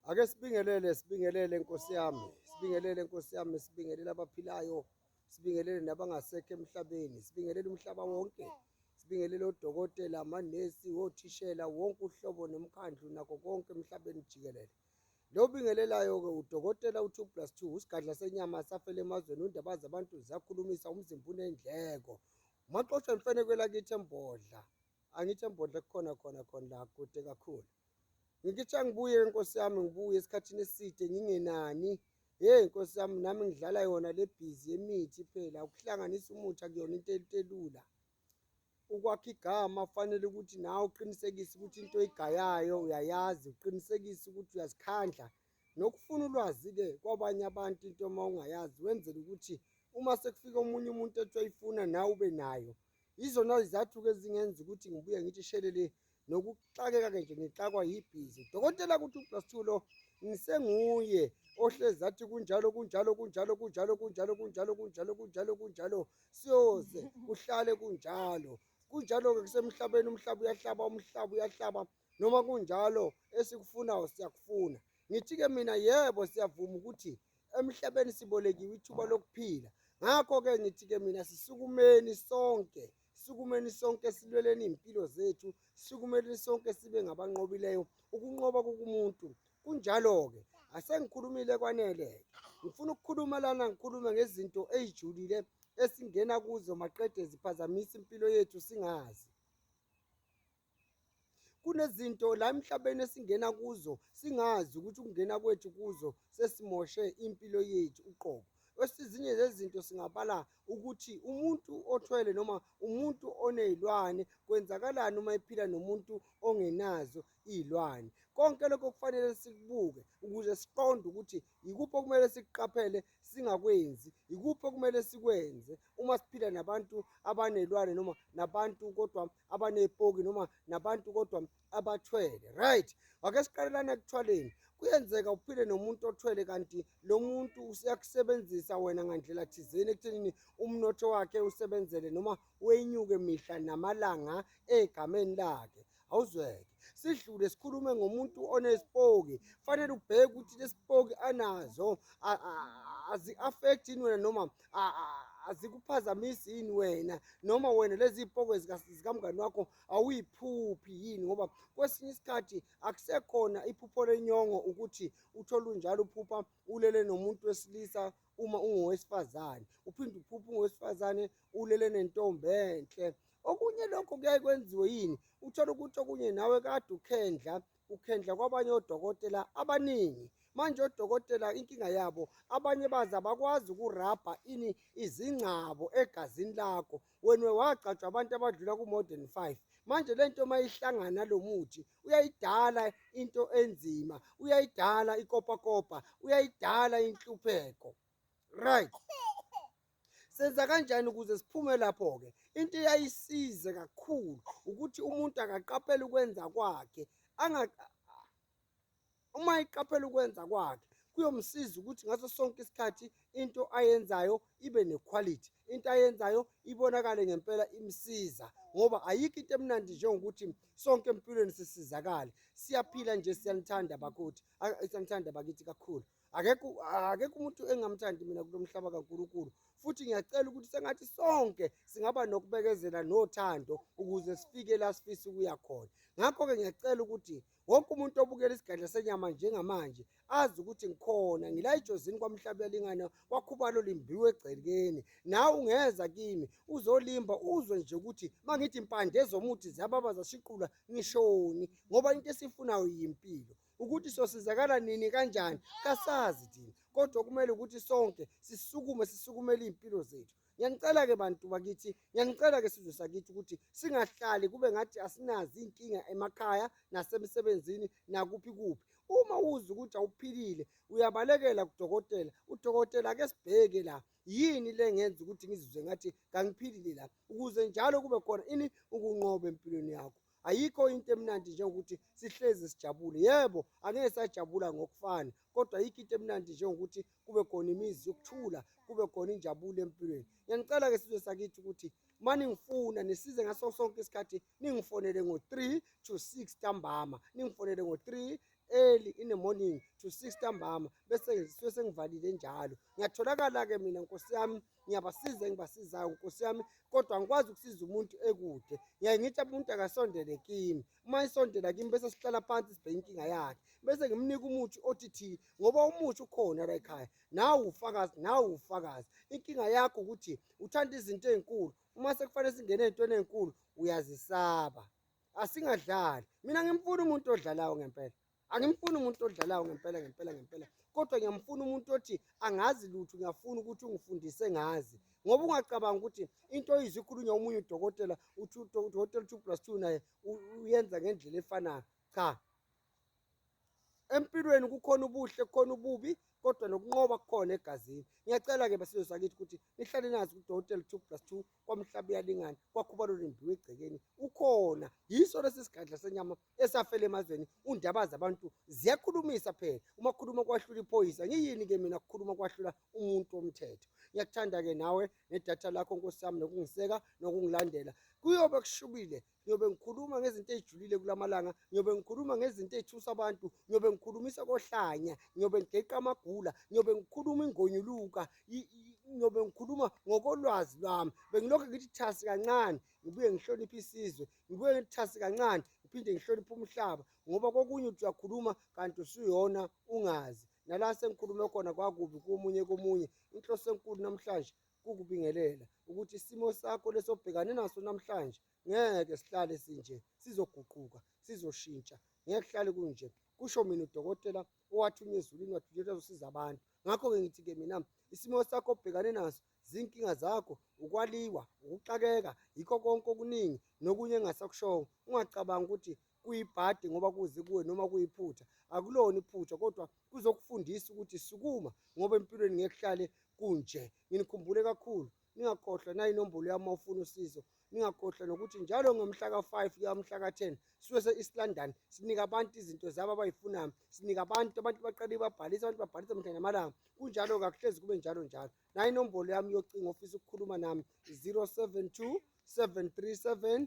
Ake sibingelele sibingelele Nkosi yami sibingelele Nkosi yami sibingelele abaphilayo sibingelele nabangasekho emhlabeni sibingelele umhlaba wonke sibingelele odokotela amanesi othishela wonke uhlobo nomkhandlu nako konke emhlabeni jikelele lo bingelelayo-ke udokotela u-two plus two usigadla senyama safele emazweni undaba zabantu ziyakhulumisa umzimba unendleko maxoshwa imfeneko elakithi embodla Angithi embondle kukhona khona khona la kude kakhulu. Ngikithi angibuye nkosi yami ngibuye esikhathini eside ngingenani. Hey nkosi yami nami ngidlala yona le busy yemithi phela ukuhlanganisa umuthi akuyona into elula. Ukwakha igama kufanele ukuthi nawe uqinisekise ukuthi into oyigayayo uyayazi uqinisekise ukuthi uyazikhandla nokufuna ulwazi-ke kwabanye abantu into uma ungayazi wenzela ukuthi uma sekufika omunye umuntu ethi wayifuna nawe ube nayo Yizona izathu-ke ezingenza ukuthi ngibuye ngithi shelele nokuxakeka-ke nje ngixakwa yibhizi. Dokotela kuthi uplus two lo ngisenguye ohlezi athi kunjalo kunjalo kunjalo kunjalo kunjalo kunjalo kunjalo kunjalo kunjalo siyoze kuhlale kunjalo kunjalo-ke kusemhlabeni umhlaba uyahlaba umhlaba uyahlaba noma kunjalo esikufunayo siyakufuna ngithi-ke mina yebo siyavuma ukuthi emhlabeni sibolekiwe ithuba lokuphila ngakho-ke ngithi-ke mina sisukumeni sonke sukumeni sonke silweleni iy'mpilo zethu sukumeni sonke sibe ngabanqobileyo ukunqoba kukumuntu kunjalo-ke asengikhulumile kwanele-ke ngifuna ukukhuluma lana ngikhulume ngezinto ey'julile esingena kuzo maqede ziphazamisa impilo yethu singazi kunezinto la emhlabeni esingena kuzo singazi ukuthi ukungena kwethu kuzo sesimoshe impilo yethu uqobo esinye zezinto singabala ukuthi umuntu othwele noma umuntu onezilwane kwenzakalani uma ephila nomuntu ongenazo izilwane konke lokho kufanele sikubuke ukuze siqonde ukuthi Yikuphi okumele sikuqaphele singakwenzi? Yikuphi okumele sikwenze uma siphila nabantu abanelwane noma nabantu kodwa abanepoki noma nabantu kodwa abathwele? Right, ake siqalelane ekuthwaleni. Kuyenzeka uphile nomuntu othwele kanti lo muntu uyakusebenzisa wena ngandlela thizeni ekuthenini umnotho wakhe usebenzele noma wenyuke mihla namalanga egameni lakhe. awuzweke sidlule sikhulume ngomuntu onesipoki fanele ubheke ukuthi lesipoki anazo azi-affect yini wena noma azikuphazamisi yini wena noma wena lezi ipoko zikamngani wakho awuyiphuphi yini ngoba kwesinye isikhathi akusekhona iphupho lenyongo ukuthi uthole unjalo uphupha ulele nomuntu wesilisa uma ungowesifazane uphinde uphuphe ungowesifazane ulele nentombi enhle Okunye lokho kuyaye kwenziwe yini? Uthole ukuthi okunye nawe kade ukhendla, ukhendla kwabanye odokotela abaningi. Manje odokotela inkinga yabo abanye baze abakwazi ukurabha ini izingcabo egazini lakho. Wena wagcatshwa abantu abadlula ku-more than five. Manje le nto uma ihlangana nalo muthi uyayidala into enzima, uyayidala ikopakopa, uyayidala inhlupheko. Right. Senza kanjani ukuze siphume lapho-ke? Into eyayisize kakhulu ukuthi umuntu akaqaphele ukwenza kwakhe uma eqaphela ukwenza kwakhe kuyomsiza ukuthi ngaso sonke isikhathi into ayenzayo ibe nequality into ayenzayo ibonakale ngempela imsiza ngoba ayikho into emnandi njengokuthi sonke empilweni sisizakale siyaphila nje siyanithanda bakuthi siyanithanda bakithi kakhulu akekho akekho umuntu engamthandi mina kulo mhlaba kaNkulunkulu futhi ngiyacela ukuthi sengathi sonke singaba nokubekezela nothando ukuze sifike la sifisa ukuya khona ngakho-ke ngiyacela ukuthi wonke umuntu obukela isigadla senyama njengamanje azi ukuthi ngikhona ngila ejozini kwamhlaba yalingana kwakhubalo limbiwe egcekeni nawe ungeza kimi uzolimba uzwe nje ukuthi uma ngithi impande ezomuthi ziyababa zashiqula ngishoni ngoba into esifunayo yimpilo ukuthi sosizakala nini kanjani kasazi thina kodwa kumele ukuthi sonke sisukume sisukumele iy'mpilo zethu ngiyanicela-ke bantu bakithi ngiyanicela-ke sizwe sakithi ukuthi singahlali kube ngathi asinazi iy'nkinga emakhaya nasemsebenzini nakuphi kuphi uma uzi ukuthi awuphilile uyabalekela kudokotela udokotela ake sibheke la yini le ngenza ukuthi ngizizwe ngathi kangiphilile la ukuze njalo kube khona ini ukunqoba empilweni yakho ayikho into emnandi njengokuthi sihlezi sijabule yebo angeke sajabula ngokufana kodwa ayikho into emnandi njengokuthi kube khona imizi yokuthula kube khona injabulo empilweni ngiyanicela ke sizwe sakithi ukuthi mani ngifuna nisize ngaso sonke isikhathi ningifonele ngo-3 to 6 ntambama ningifonele ngo-3 early in the morning to 6 ntambama bese ngisuke sengivalile njalo ngiyatholakala-ke mina nkosi yami ngiyabasiza engibasizayo nkosi yami kodwa ngikwazi ukusiza umuntu ekude ngiyaye ngithi umuntu akasondele kimi uma isondela kimi bese sihlala phansi sibheke inkinga yakhe bese ngimnika umuthi othi thi ngoba umuthi ukhona la ekhaya nawe ufakazi nawe ufakazi inkinga yakho ukuthi uthanda izinto ezinkulu uma sekufanele singene ezintweni ezinkulu uyazisaba asingadlali mina ngimfuna umuntu odlalayo ngempela angimfuni umuntu odlalayo ngempela ngempela ngempela kodwa ngiyamfuna umuntu othi angazi lutho ngiyafuna ukuthi ungifundise ngazi ngoba ungacabanga ukuthi into oyizwe ikhulunywa omunye udokotela uthi udokotela two plus two naye uyenza ngendlela efanayo cha empilweni kukhona ubuhle kukhona ububi kodwa nokunqoba kukhona egazini ngiyacela-ke basizwe sakithi ukuthi nihlale nazi kudokotela two plus two kwamhlaba uyalingana kwakhubalo lembiwe egcekeni ukhona yiso lesi sigadla senyama esafela emazweni undaba zabantu ziyakhulumisa phela uma khuluma kwahlula iphoyisa ngiyini ke mina kukhuluma kwahlula umuntu womthetho ngiyakuthanda ke nawe nedatha lakho nkosi yami nokungiseka nokungilandela kuyobe kushubile ngiyobe ngikhuluma ngezinto ezijulile kulamalanga ngiyobe ngikhuluma ngezinto ezithusa abantu ngiyobe ngikhulumisa kohlanya ngiyobe ngigeqa amagula ngiyobe ngikhuluma ingonyuluka ngiyobe ngikhuluma ngokolwazi lwami bengilokhu ngithi thasi kancane ngibuye ngihloniphe isizwe ngibuye ngithi thasi kancane ngiphinde ngihloniphe umhlaba ngoba kokunye uthi uyakhuluma kanti usuyona ungazi nala sengikhulume khona kwakubi komunye komunye inhloso enkulu namhlanje kukubingelela ukuthi isimo sakho lesobhekane naso namhlanje ngeke sihlale sinje sizoguquka sizoshintsha ngeke kuhlale kunje kusho mina udokotela owathunywa ezulwini wathunyelwa uzosiza abantu ngakho-ke ngithi-ke mina isimo sakho obhekane naso zinkinga zakho ukwaliwa ukuxakeka yikho konke okuningi nokunye engasakushongo ungacabanga ukuthi kuyibhadi ngoba kuze kuwe noma kuyiphutha akulona iphutha kodwa kuzokufundisa ukuthi sukuma ngoba empilweni ngeke kuhlale kunje nginikhumbule kakhulu ningakhohlwa nayinombolo yami ufuna usizo ningakhohlwa nokuthi njalo ngomhla ka-5 kuya umhla ka-10 suke se-east london sinika abantu izinto zabo abayifunayo sinika abantu abantu baqale babhalise abantu babhalise mhla namalanga kunjalo kakuhlezi kube njalo njalo nayo inombolo yami yocingo ofisa ukukhuluma nami 072 737